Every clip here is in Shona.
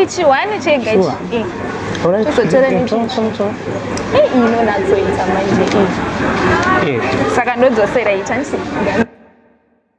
chiwani chega ichi uzotora inonatsoita manje saka ndodzosera itansi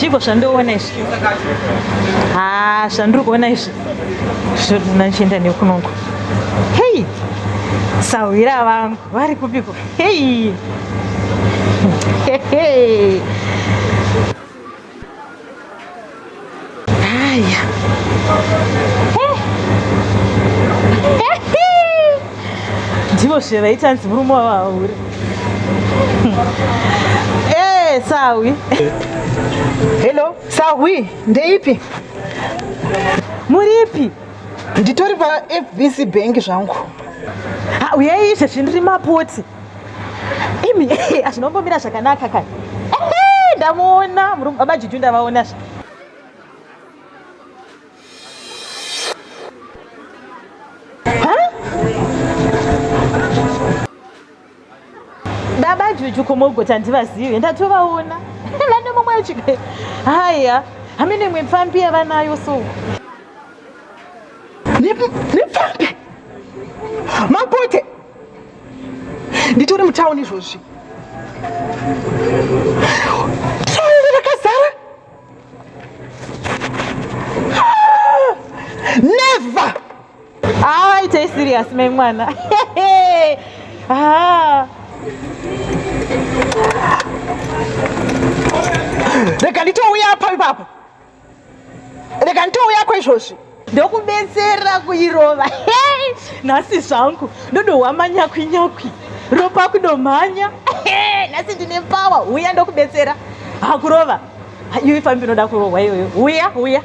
zvigo zvandoona izvi ha zvandiri kuona izvi zvonachienda nekunongo hei sahwira vangu vari kupiko Hey. Hey. Haya. Ndivo zve vaita nzi murume wavahure. Eh, sawi. Hello, sawi. Ndeipi? Muripi? nditori pafbc bank zvangu uyai izvezvi ndiri mapoti imi azvinombomira zvakanaka kai ndamuona murume baba juju ndavaona zva baba juju komogoti handivazive ndatovaona vane mumwe achika haya hamene imwe pfambi yavanayo so nepfambi mapote nditori mutauni izvozvi rakazara ah! never Ah, it's a serious man, man. ah. rega nditouya apa ipapo rega nditouya kwaizvozvi ndokubetsera kuirova hey! nhasi zvangu ndodohwa manyakwi nyakwi ropa kudomhanya hey! nhasi ndine pawa huya ndokubetsera hakurova iwe fambi inoda kurohwa iyoyo huya huya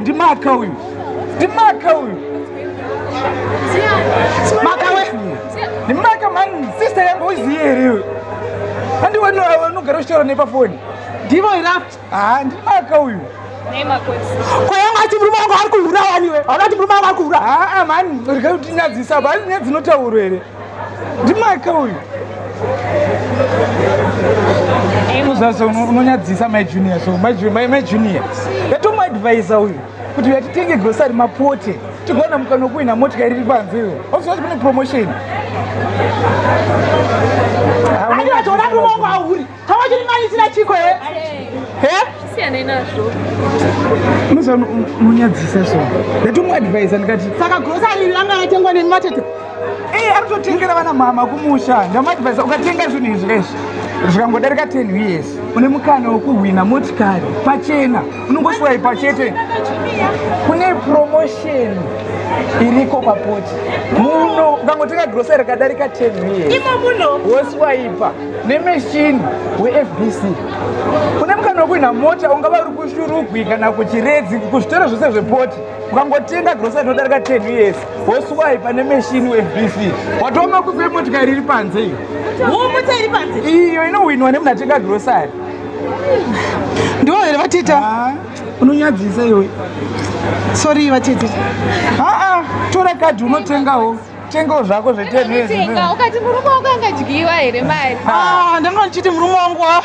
ndimaka uyu ndimaka uyu ndimaka mani sister yangu uziye here andiwanogara uchitaura nepafoni ndivo irafu Haa ndiri maka uyu. Nei mako isi. Ko yangu ati murume wangu ari kuhura wani we. Hauna kuti murume wangu ari kuhura. Haa mani rega kuti nyadzisa apa asi nyadzi inotaurwa here. Ndiri maka uyu. Kuzasa unonyadzisa mai junior so mai junior mai junior. Yatomu advisor uyu kuti yatitenge grocery mapote tigona mukanokuina motika iri panze iyo oziva kuti kune promotion. Haa unonyadzisa. Haa unonyadzisa. Tawachimanidzira chiko he? He? Siyane nazvo. Musa munyadzisa so. Ndatomu advise ndikati saka grocery langa yatengwa nemi matete. Eh, ari kutotengera vana mama kumusha. Ndamu advise ukatenga zvinhu izvi lesvi. Zvikangodarika 10 years une mukana wekuhwina motikari pachena unongoswaipa chete. Kune promotion iriko papoti muno ukangotenga grocery kadarika 10 years. Imo muno woswaipa. nemeshini wefbc une mukana wekuhwina mota ungava uri kushurugwi kana kuchiredzi kuzvitoro zvose zvepoti ukangotenga grosa inodarika 10 years woswai pane meshini wefbc watova makufi emotikari iri panze iyo iyo inohwinwa nemunatenga grosari ndivo here vatita ah, unonyadzisa iwe sorry vatita aa ah, ah, tora kadhi unotengawo tengawo zvako zvetenga ukati murume wako angadyiwa here mari ah, ndanga ndichiti murume wangu oh.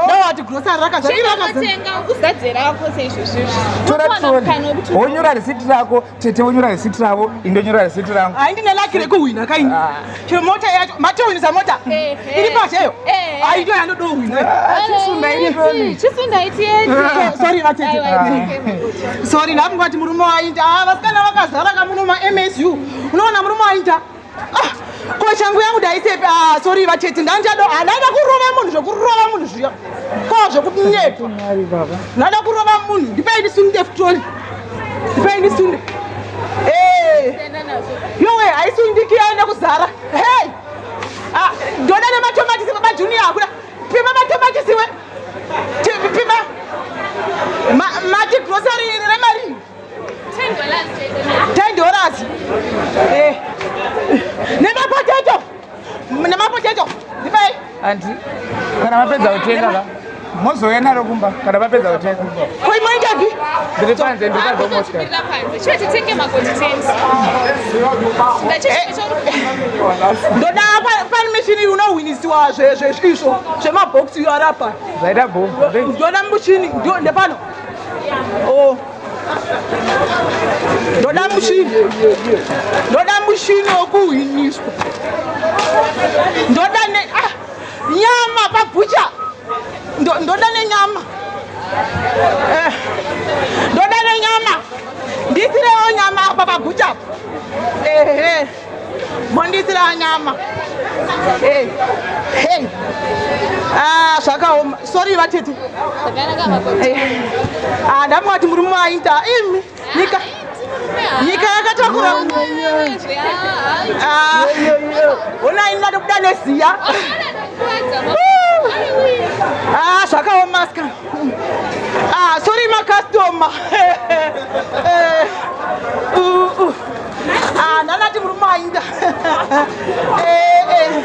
ndawati grosari rakazvatenga ukuzadze rako seizvozvizvowonyora risiti rako tete wonyora risiti ravo indonyora risiti rangu hai ndine laki rekuhwina kaini ah. chero mota yacho matohwinisa mota eh, eh. iri pasheyo eh, aito yanodohwina ah, chisundaitisundaitie sorry vatete sorry ndabva kuvati murume wainda ah, vasikana vakazara kamuno maMSU unoona murume wainda ah, ko changu yangu ndaisepi ah, sorry vatete ndanjado ndaida kurova munhu zvekurova munhu zviya ko zvekunyepa ndaida kurova munhu ndipei ndisunde futoli ndipei ndisunde eh. yowe haisundiki yaenda kuzara hey! ndoda nematomatisi babajuniya akuda pima matomatisiwe mati grocery iri remari 10 dollars eh. nemapotato nemapotato ndipai andi kana mapedza kutenga ka mozouya naro kumba kana mapedza kutenga koimoitapi ndiri panze ndiri panze ndoda pamuchini unohwinisiwa izvo zvemabhokisi iyo arapa ndoda muchini ndepano oh. ndoda muchini ndoda muchini wekuhwiniswa ndoda Nyama pabucha ndoda nenyama eh, ndoda nenyama ndisirewo nyama apa pabucha ehe mondisira nyama hey. Hey. Ah, zvakaoma sorry vatete eh, ah, ndamwati muri muaita imi Nyika nyika yakatakura ah, ona ini ndatobuda neziya ah, zvakaoma ska ah, sorry makastoma eh, uh, uh. ndanati murume ainda eh, eh.